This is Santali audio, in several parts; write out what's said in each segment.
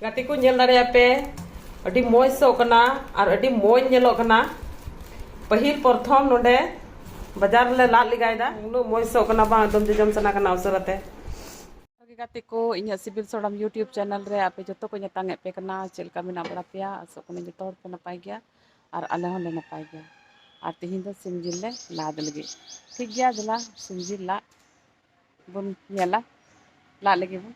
ᱜᱟᱛᱮ ᱠᱚ ᱧᱮᱞ ᱫᱟᱲᱮᱭᱟᱜ ᱯᱮ ᱟᱹᱰᱤ ᱢᱚᱡᱽ ᱥᱚᱜ ᱠᱟᱱᱟ ᱟᱨ ᱟᱹᱰᱤ ᱢᱚᱡᱽ ᱧᱮᱞᱚᱜ ᱠᱟᱱᱟ ᱯᱟᱹᱦᱤᱞ ᱯᱨᱚᱛᱷᱚᱢ ᱱᱚᱰᱮ ᱵᱟᱡᱟᱨ ᱨᱮᱞᱮ ᱞᱟᱫ ᱞᱮᱜᱟᱭᱮᱫᱟ ᱩᱱᱟᱹᱜ ᱢᱚᱡᱽ ᱥᱚᱜ ᱠᱟᱱᱟ ᱵᱟᱝ ᱮᱠᱫᱚᱢ ᱡᱚᱡᱚᱢ ᱥᱟᱱᱟ ᱠᱟᱱᱟ ᱩᱥᱟᱹᱨᱟᱛᱮ ᱜᱟᱛᱮ ᱠᱚ ᱤᱧᱟᱹᱜ ᱥᱤᱵᱤᱞ ᱥᱚᱲᱚᱢ ᱤᱭᱩᱴᱤᱭᱩᱵᱽ ᱪᱮᱱᱮᱞ ᱨᱮ ᱟᱯᱮ ᱡᱚᱛᱚ ᱠᱚ ᱧᱟᱛᱟᱝ ᱮᱫ ᱯᱮ ᱠᱟᱱᱟ ᱪᱮᱫ ᱞᱮᱠᱟ ᱢᱮᱱᱟᱜ ᱵᱟᱲᱟ ᱯᱮᱭᱟ ᱟᱥᱚᱜ ᱠᱟᱹᱱᱟᱹᱧ ᱡᱚᱛᱚ ᱦᱚᱲ ᱯᱮ ᱱᱟᱯᱟᱭ ᱜᱮᱭᱟ ᱟᱨ ᱟᱞᱮ ᱦᱚᱸᱞᱮ ᱱᱟᱯᱟᱭ ᱜᱮᱭᱟ ᱟᱨ ᱛᱮᱦᱮᱧ ᱫᱚ ᱥᱤᱢ ᱡᱤᱞ ᱞᱮ ᱞᱟᱫ ᱞᱟᱹᱜᱤᱫ ᱴᱷᱤᱠ ᱜᱮᱭᱟ ᱫᱮᱞᱟ ᱥᱤᱢ ᱡᱤᱞ ᱞᱟᱫ ᱵᱚᱱ ᱧᱮᱞᱟ ᱞᱟᱫ ᱞᱟᱹᱜᱤᱫ ᱵᱚᱱ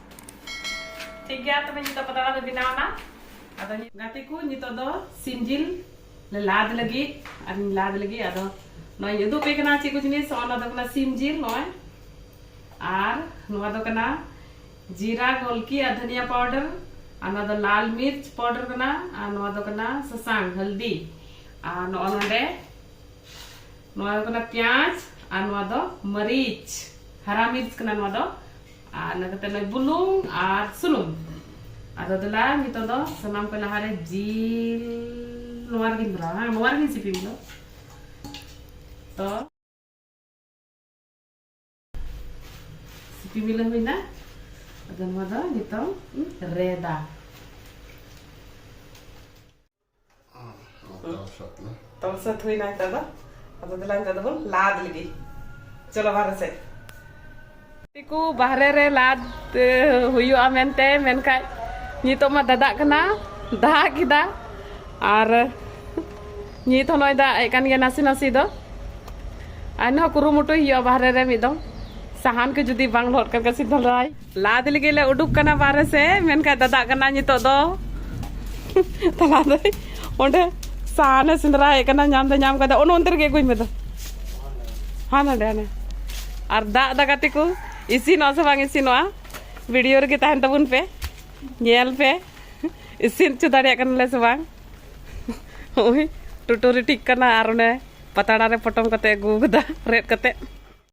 ᱴᱷᱤᱠ ᱜᱮᱭᱟ ᱛᱚᱵᱮ ᱱᱤᱛᱚᱜ ᱯᱟᱛᱲᱟ ᱫᱚ ᱵᱮᱱᱟᱣᱱᱟ ᱟᱫᱚ ᱜᱟᱛᱮ ᱠᱚ ᱱᱤᱛᱚᱜ ᱫᱚ ᱥᱤᱢ ᱡᱤᱞ ᱞᱮ ᱞᱟᱫ ᱞᱟᱹᱜᱤᱫ ᱟᱨ ᱞᱟᱫ ᱞᱟᱹᱜᱤᱫ ᱟᱫᱚ ᱱᱚᱜᱼᱚᱭ ᱤᱧ ᱩᱫᱩᱜ ᱯᱮ ᱠᱟᱱᱟ ᱪᱮᱫ ᱠᱚ ᱡᱤᱱᱤᱥ ᱚᱱᱟ ᱫᱚ ᱠᱟᱱᱟ ᱥᱤᱢ ᱡᱤᱞ ᱱᱚᱜᱼᱚᱭ ᱟᱨ ᱱᱚᱣᱟ ᱫᱚ ᱠᱟᱱᱟ ᱡᱤᱨᱟ ᱜᱚᱞᱠᱤ ᱟᱨ ᱫᱷᱟᱱᱤᱭᱟ ᱯᱟᱣᱰᱟᱨ ᱟᱨ ᱱᱚᱣᱟ ᱫᱚ ᱞᱟᱞ ᱢᱤᱨᱪ ᱯᱟᱣᱰᱟᱨ ᱠᱟᱱᱟ ᱟᱨ ᱱᱚᱣᱟ ᱫᱚ ᱠᱟᱱᱟ ᱥᱟᱥᱟᱝ ᱦᱚᱞᱫᱤ ᱟᱨ ᱱᱚᱜᱼᱚ ᱱᱚᱰᱮ ᱱᱚᱣᱟ ᱫᱚ ᱠᱟᱱᱟ ᱯᱮᱸᱭᱟᱡᱽ ᱟᱨ ᱱᱚᱣᱟ ᱫᱚ ᱢᱟᱹᱨᱤᱪ ᱦᱟᱨᱟ ᱢᱤᱨᱪ ᱠᱟᱱᱟ ᱱᱚᱣᱟ ᱫᱚ ᱟᱨ ᱤᱱᱟᱹ ᱠᱟᱛᱮ ᱱᱚᱜᱼᱚᱭ ᱵᱩᱞᱩᱝ ᱟᱨ ᱥᱩᱱᱩᱢ ᱟᱫᱚ ᱫᱮᱞᱟ ᱱᱤᱛᱚᱜ ᱫᱚ ᱥᱟᱱᱟᱢ ᱠᱚ ᱞᱟᱦᱟᱨᱮ ᱡᱤᱞ ᱱᱚᱣᱟ ᱨᱮᱜᱤᱧ ᱵᱷᱚᱨᱟᱣᱟ ᱱᱚᱣᱟ ᱨᱮᱜᱤᱧ ᱥᱤᱯᱤ ᱵᱚᱞᱚ ᱛᱚ ᱥᱤᱯᱤ ᱵᱤᱞᱟᱹ ᱦᱩᱭᱱᱟ ᱟᱫᱚ ᱱᱚᱣᱟ ᱫᱚ ᱱᱤᱛᱚᱝ ᱨᱮᱫᱟ ᱛᱚ ᱥᱟᱹᱛ ᱦᱩᱭᱱᱟ ᱱᱤᱛᱚᱜ ᱫᱚ ᱟᱫᱚ ᱫᱮᱞᱟ ᱱᱤᱛᱚᱜ ᱫᱚᱵᱚᱱ ᱞᱟᱫ ᱞᱮᱜᱮ ᱪᱚᱞᱚ ᱵᱟᱨᱦᱮ ᱥᱮᱫ ᱠᱚ ᱵᱟᱦᱨᱮ ᱨᱮ ᱞᱟᱫ ᱦᱩᱭᱩᱜᱼᱟ ᱢᱮᱱᱛᱮ ᱢᱮᱱᱠᱷᱟᱡ ᱱᱤᱛᱚᱜ ᱢᱟ ᱫᱟᱫᱟᱜ ᱠᱟᱱᱟ ᱫᱟᱜ ᱠᱮᱫᱟ ᱟᱨ ᱱᱤᱛ ᱦᱚᱸ ᱱᱚᱜᱼᱚᱭ ᱫᱟᱜ ᱮᱫ ᱠᱟᱱ ᱜᱮᱭᱟ ᱱᱟᱥᱮ ᱱᱟᱥᱮ ᱫᱚ ᱟᱨᱦᱚᱸ ᱠᱩᱨᱩᱢᱩᱴᱩᱭ ᱦᱩᱭᱩᱜᱼᱟ ᱵᱟᱦᱨᱮ ᱨᱮ ᱢᱤᱫ ᱫᱚᱢ ᱥᱟᱦᱟᱱ ᱠᱚ ᱡᱩᱫᱤ ᱵᱟᱝ ᱞᱚᱦᱚᱫ ᱠᱟᱱ ᱠᱷᱟᱡ ᱥᱤᱫᱷᱟᱹ ᱞᱟᱭ ᱞᱟᱫ ᱞᱟᱹᱜᱤᱫ ᱞᱮ ᱩᱰᱩᱠ ᱠᱟᱱᱟ ᱵᱟᱨᱦᱮ ᱥᱮ ᱢᱮᱱᱠᱷᱟᱱ ᱫᱟᱫᱟᱜ ᱠᱟᱱᱟ ᱱᱤᱛᱚᱜ ᱫᱚ ᱛᱟᱞᱟ ᱫᱚ ᱚᱸᱰᱮ ᱥᱟᱦᱟᱱᱮ ᱥᱮᱸᱫᱽᱨᱟᱭᱮᱫ ᱠᱟᱱᱟ ᱧᱟᱢ ᱫᱚ ᱧᱟᱢ ᱠᱟᱫᱟ ᱚᱱᱮ ᱚᱱᱛᱮ ᱨᱮᱜᱮ ᱟᱹᱜᱩᱧ ᱢᱮ ᱫᱚ ᱦᱟᱱ ᱦᱟᱸᱰᱮ ᱦᱟᱱᱮ ᱟᱨ ᱫᱟᱜ ᱫᱟ ᱜᱟᱛᱮ ᱠᱚ ᱤᱥᱤᱱᱚᱜᱼᱟ ᱥᱮ ᱵᱟᱝ ᱤᱥᱤᱱᱚᱜᱼᱟ ᱵᱷᱤᱰᱤᱭᱳ ᱨᱮᱜᱮ ᱛᱟᱦᱮᱱ ᱛᱟᱵᱚᱱ ᱯᱮ ᱧᱮᱞ ᱯᱮ ᱤᱥᱤᱱ ᱦᱚᱪᱚ ᱫᱟᱲᱮᱭᱟᱜ ᱠᱟᱱᱟᱞᱮ ᱥᱮ ᱵᱟᱝ ᱦᱳᱭ ᱴᱩᱴᱩᱨᱤ ᱴᱷᱤᱠ ᱠᱟᱱᱟ ᱟᱨ ᱚᱱᱮ ᱯᱟᱛᱲᱟ ᱨᱮ ᱯᱚᱴᱚᱢ ᱠᱟᱛᱮ ᱟᱹᱜᱩ ᱠᱟᱫᱟ ᱨᱮᱫ ᱠᱟᱛᱮ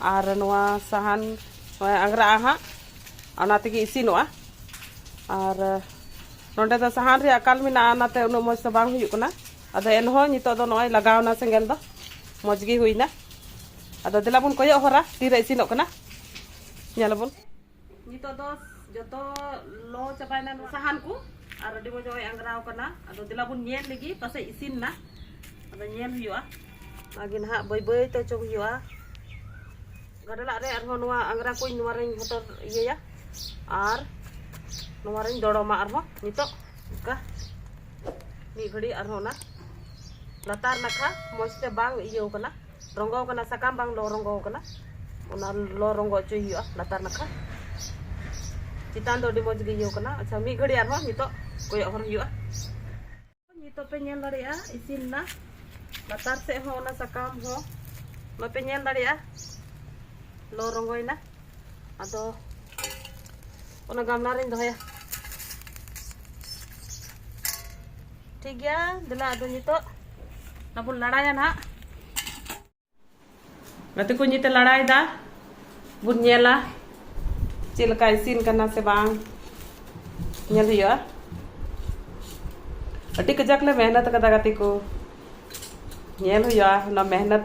ᱟᱨ ᱱᱚᱣᱟ ᱥᱟᱦᱟᱱ ᱟᱝᱜᱽᱨᱟᱜᱼᱟ ᱦᱟᱸᱜ ᱚᱱᱟ ᱛᱮᱜᱮ ᱤᱥᱤᱱᱚᱜᱼᱟ ᱟᱨ ᱱᱚᱰᱮ ᱫᱚ ᱥᱟᱦᱟᱱ ᱨᱮᱭᱟᱜ ᱟᱠᱟᱞ ᱢᱮᱱᱟᱜᱼᱟ ᱚᱱᱟᱛᱮ ᱩᱱᱟᱹᱜ ᱢᱚᱡᱽ ᱫᱚ ᱵᱟᱝ ᱦᱩᱭᱩᱜ ᱠᱟᱱᱟ ᱟᱫᱚ ᱮᱱᱦᱚᱸ ᱱᱤᱛᱚᱜ ᱫᱚ ᱱᱚᱜᱼᱚᱭ ᱞᱟᱜᱟᱣᱱᱟ ᱥᱮᱸᱜᱮᱞ ᱫᱚ ᱢᱚᱡᱽ ᱜᱮ ᱦᱩᱭᱱᱟ ᱟᱫᱚ ᱫᱮᱞᱟ ᱵᱚᱱ ᱠᱚᱭᱚᱜ ᱦᱚᱨᱟ ᱛᱤᱨᱮ ᱤᱥᱤᱱᱚᱜ ᱠᱟᱱᱟ ᱧᱮᱞᱟᱵᱚᱱ ᱱᱤᱛᱚᱜ ᱫᱚ ᱡᱚᱛᱚ ᱞᱚ ᱪᱟᱵᱟᱭᱮᱱᱟ ᱥᱟᱦᱟᱱ ᱠᱚ ᱟᱨ ᱟᱹᱰᱤ ᱢᱚᱡᱽ ᱦᱚᱭ ᱟᱝᱜᱽᱨᱟᱣ ᱠᱟᱱᱟ ᱟᱫᱚ ᱫᱮᱞᱟ ᱵᱚᱱ ᱧᱮᱞ ᱞᱮᱜᱮ ᱯᱟᱥᱮᱡ ᱤᱥᱤᱱ ᱱᱟ ᱟᱫᱚ ᱧᱮᱞ ᱦᱩᱭᱩᱜᱼᱟ ᱟᱜᱮ ᱱᱟᱦᱟᱜ ᱵᱟᱹᱭ ᱵᱟᱹᱭ ᱛᱮ ᱚᱪᱚᱜ ᱦᱩᱭᱩᱜᱼᱟ ᱜᱟᱰᱞᱟᱜ ᱨᱮ ᱟᱨᱦᱚᱸ ᱱᱚᱣᱟ ᱟᱝᱜᱽᱨᱟ ᱠᱚᱧ ᱱᱚᱣᱟ ᱨᱮᱧ ᱦᱚᱴᱚᱨ ᱤᱭᱟᱹᱭᱟ ᱟᱨ ᱱᱚᱣᱟ ᱨᱮᱧ ᱫᱚᱲᱚᱢᱟ ᱟᱨᱦᱚᱸ ᱱᱤᱛᱚᱜ ᱚᱱᱠᱟ ᱢᱤᱫ ᱜᱷᱟᱹᱲᱤᱡ ᱟᱨᱦᱚᱸ ᱚᱱᱟ ᱞᱟᱛᱟᱨ ᱱᱟᱠᱷᱟ ᱢᱚᱡᱽ ᱛᱮ ᱵᱟᱝ ᱤᱭᱟᱹᱣ ᱠᱟᱱᱟ ᱨᱚᱸᱜᱚ ᱠᱟᱱᱟ ᱥᱟᱠᱟᱢ ᱵᱟᱝ ᱞᱚ ᱨᱚᱸᱜᱚ ᱠᱟᱱᱟ ᱚᱱᱟ ᱞᱚ ᱨᱚᱸᱜᱚ ᱦᱚᱪᱚᱭ ᱦᱩᱭᱩᱜᱼᱟ ᱞᱟᱛᱟᱨ ᱱᱟᱠᱷᱟ ᱪᱮᱛᱟᱱ ᱫᱚ ᱟᱹᱰᱤ ᱢᱚᱡᱽ ᱜᱮ ᱤᱭᱟᱹ ᱠᱟᱱᱟ ᱟᱪᱪᱷᱟ ᱢᱤᱫ ᱜᱷᱟᱹᱲᱤ ᱟᱨᱦᱚᱸ ᱱᱤᱛᱚᱜ ᱠᱚᱭᱚᱜ ᱦᱚᱨ ᱦᱩᱭᱩᱜᱼᱟ ᱱᱤᱛᱚᱜ ᱯᱮ ᱧᱮᱞ ᱫᱟᱲᱮᱭᱟᱜᱼᱟ ᱤᱥᱤᱱ ᱮᱱᱟ ᱞᱟᱛᱟᱨ ᱥᱮᱫ ᱦᱚᱸ ᱚᱱᱟ ᱥᱟᱠᱟᱢ ᱦᱚᱸ ᱵᱟᱯᱮ ᱧᱮᱞ ᱫᱟᱲᱮᱭᱟᱜᱼᱟ ᱞᱚ ᱨᱚᱸᱜᱚᱭᱮᱱᱟ ᱟᱫᱚ ᱚᱱᱟ ᱜᱟᱢᱞᱟ ᱨᱤᱧ ᱫᱚᱦᱚᱭᱟ ᱴᱷᱤᱠ ᱜᱮᱭᱟ ᱫᱮᱞᱟ ᱟᱫᱚ ᱱᱤᱛᱚᱜ ᱚᱱᱟ ᱵᱚᱱ ᱞᱟᱲᱟᱭᱟ ᱱᱟᱦᱟᱜ ᱜᱟᱛᱮ ᱠᱚ ᱱᱤᱛᱮ ᱞᱟᱲᱟᱭᱮᱫᱟ ᱵᱚᱱ ᱧᱮᱞᱟ ᱪᱮᱫ ᱞᱮᱠᱟ ᱤᱥᱤᱱ ᱠᱟᱱᱟ ᱥᱮ ᱵᱟᱝ ᱧᱮᱞ ᱦᱩᱭᱩᱜᱼᱟ ᱟᱹᱰᱤ ᱠᱟᱡᱟᱠ ᱞᱮ ᱢᱮᱦᱱᱚᱛ ᱠᱟᱫᱟ ᱜᱟᱛᱮ ᱠᱚ ᱧᱮᱞ ᱦᱩᱭᱩᱜᱼᱟ ᱚᱱᱟ ᱢᱮᱦᱱᱚᱛ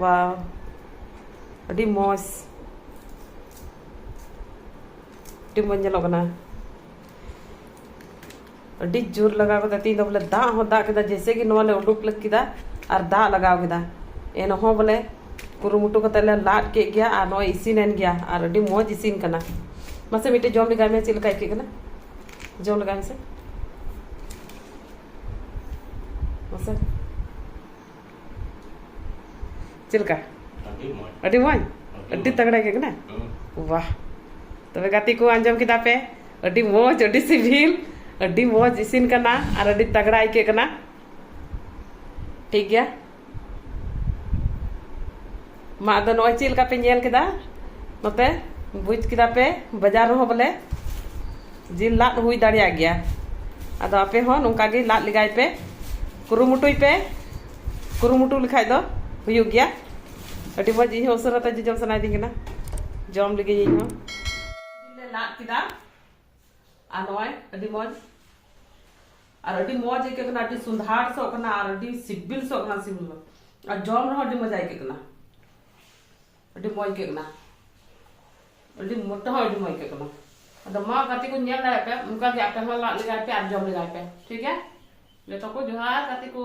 ᱵᱟ ᱟᱹᱰᱤ ᱢᱚᱡᱽ ᱟᱹᱰᱤ ᱢᱚᱡᱽ ᱧᱮᱞᱚᱜ ᱠᱟᱱᱟ ᱟᱹᱰᱤ ᱡᱳᱨ ᱞᱟᱜᱟᱣ ᱠᱮᱫᱟ ᱛᱤᱦᱤᱧ ᱫᱚ ᱵᱚᱞᱮ ᱫᱟᱜ ᱦᱚᱸ ᱫᱟᱜ ᱠᱮᱫᱟ ᱡᱮᱭᱥᱮ ᱜᱮ ᱱᱚᱣᱟ ᱞᱮ ᱩᱰᱩᱠ ᱞᱟᱹᱜ ᱠᱮᱫᱟ ᱟᱨ ᱫᱟᱜ ᱞᱟᱜᱟᱣ ᱠᱮᱫᱟ ᱮᱱᱦᱚᱸ ᱵᱚᱞᱮ ᱠᱩᱨᱩᱢᱩᱴᱩ ᱠᱟᱛᱮ ᱞᱮ ᱞᱟᱫ ᱠᱮᱫ ᱜᱮᱭᱟ ᱟᱨ ᱱᱚᱜᱼᱚᱭ ᱤᱥᱤᱱᱮᱱ ᱜᱮᱭᱟ ᱟᱨ ᱟᱹᱰᱤ ᱢᱚᱡᱽ ᱤᱥᱤᱱ ᱠᱟᱱᱟ ᱢᱟᱥᱮ ᱢᱤᱫᱴᱮᱡ ᱡᱚᱢ ᱞᱮᱜᱟᱭ ᱢᱮ ᱪᱮᱫ ᱞᱮᱠᱟ ᱟᱹᱭᱠᱟᱹᱜ ᱠᱟᱱᱟ ᱡᱚᱢ ᱞᱮᱜᱟᱭ ᱢᱮᱥᱮ ᱢᱟᱥᱮ ᱪᱮᱫ ᱞᱮᱠᱟ ᱟᱹᱰᱤ ᱢᱚᱡᱽ ᱟᱹᱰᱤ ᱛᱟᱜᱲᱟ ᱜᱮ ᱠᱟᱱᱟ ᱵᱟᱦ ᱛᱚᱵᱮ ᱜᱟᱛᱮ ᱠᱚ ᱟᱸᱡᱚᱢ ᱠᱮᱫᱟ ᱯᱮ ᱟᱹᱰᱤ ᱢᱚᱡᱽ ᱟᱹᱰᱤ ᱥᱤᱵᱤᱞ ᱟᱹᱰᱤ ᱢᱚᱡᱽ ᱤᱥᱤᱱ ᱠᱟᱱᱟ ᱟᱨ ᱟᱹᱰᱤ ᱛᱟᱜᱲᱟ ᱟᱹᱭᱠᱟᱹᱜ ᱠᱟᱱᱟ ᱴᱷᱤᱠ ᱜᱮᱭᱟ ᱢᱟ ᱟᱫᱚ ᱱᱚᱜᱼᱚᱭ ᱪᱮᱫ ᱞᱮᱠᱟ ᱯᱮ ᱧᱮᱞ ᱠᱮᱫᱟ ᱱᱚᱛᱮ ᱵᱩᱡᱽ ᱠᱮᱫᱟ ᱯᱮ ᱵᱟᱡᱟᱨ ᱨᱮᱦᱚᱸ ᱵᱚᱞᱮ ᱡᱤᱞ ᱞᱟᱫ ᱦᱩᱭ ᱫᱟᱲᱮᱭᱟᱜ ᱜᱮᱭᱟ ᱟᱫᱚ ᱟᱯᱮ ᱦᱚᱸ ᱱᱚᱝᱠᱟ ᱜᱮ ᱞᱟᱫ ᱞᱮᱜᱟᱭ ᱯᱮ ᱠᱩᱨᱩᱢᱩᱴᱩᱭ ᱯᱮ ᱠᱩᱨᱩᱢᱩᱴᱩ ᱞᱮᱠᱷᱟᱡ ᱫᱚ ᱦᱩᱭᱩᱜ ᱜᱮᱭᱟ ᱟᱹᱰᱤ ᱢᱚᱡᱽ ᱤᱧ ᱦᱚᱸ ᱩᱥᱟᱹᱨᱟ ᱛᱮ ᱡᱚᱡᱚᱢ ᱥᱟᱱᱟᱭᱤᱫᱤᱧ ᱠᱟᱱᱟ ᱡᱚᱢ ᱞᱟᱹᱜᱤᱫ ᱤᱧ ᱦᱚᱸ ᱡᱤᱞ ᱞᱮ ᱞᱟᱫ ᱠᱮᱫᱟ ᱟᱨ ᱱᱚᱜᱼᱚᱭ ᱟᱹᱰᱤ ᱢᱚᱡᱽ ᱟᱨ ᱟᱹᱰᱤ ᱢᱚᱡᱽ ᱟᱹᱭᱠᱟᱹᱜ ᱠᱟᱱᱟ ᱟᱹᱰᱤ ᱥᱩᱱᱫᱷᱟᱲ ᱥᱚ ᱠᱟᱱᱟ ᱟᱨ ᱟᱹᱰᱤ ᱥᱤᱵᱤᱞ ᱥᱚ ᱠᱟᱱᱟ ᱥᱤᱵᱤᱞ ᱫᱚ ᱟᱨ ᱡᱚᱢ ᱨᱮᱦᱚᱸ ᱟᱹᱰᱤ ᱢᱚᱡᱽ ᱟᱹᱭᱠᱟᱹᱜ ᱠᱟᱱᱟ ᱟᱹᱰᱤ ᱢᱚᱡᱽ ᱟᱹᱭᱠᱟᱹᱜ ᱠᱟᱱᱟ ᱟᱹᱰᱤ ᱢᱚᱴᱟ ᱦᱚᱸ ᱟᱹᱰᱤ ᱢᱚᱡᱽ ᱟᱹᱭᱠᱟᱹᱜ ᱠᱟᱱᱟ ᱟᱫᱚ ᱢᱟ ᱜᱟᱛᱮ ᱠᱚ ᱧᱮᱞ ᱫᱟᱲᱮᱭᱟᱜ ᱯᱮ ᱚᱱᱠᱟ ᱜᱮ ᱟᱯᱮ ᱦᱚᱸ ᱞᱟᱜ ᱞᱮᱜᱟᱭ ᱯᱮ ᱟᱨ ᱡᱚᱢ ᱞᱮᱜᱟᱭ ᱯᱮ ᱴᱷᱤᱠ ᱜᱮᱭᱟ ᱡᱚᱛᱚ ᱠᱚ ᱡᱚᱦᱟᱨ ᱜᱟᱛᱮ ᱠᱚ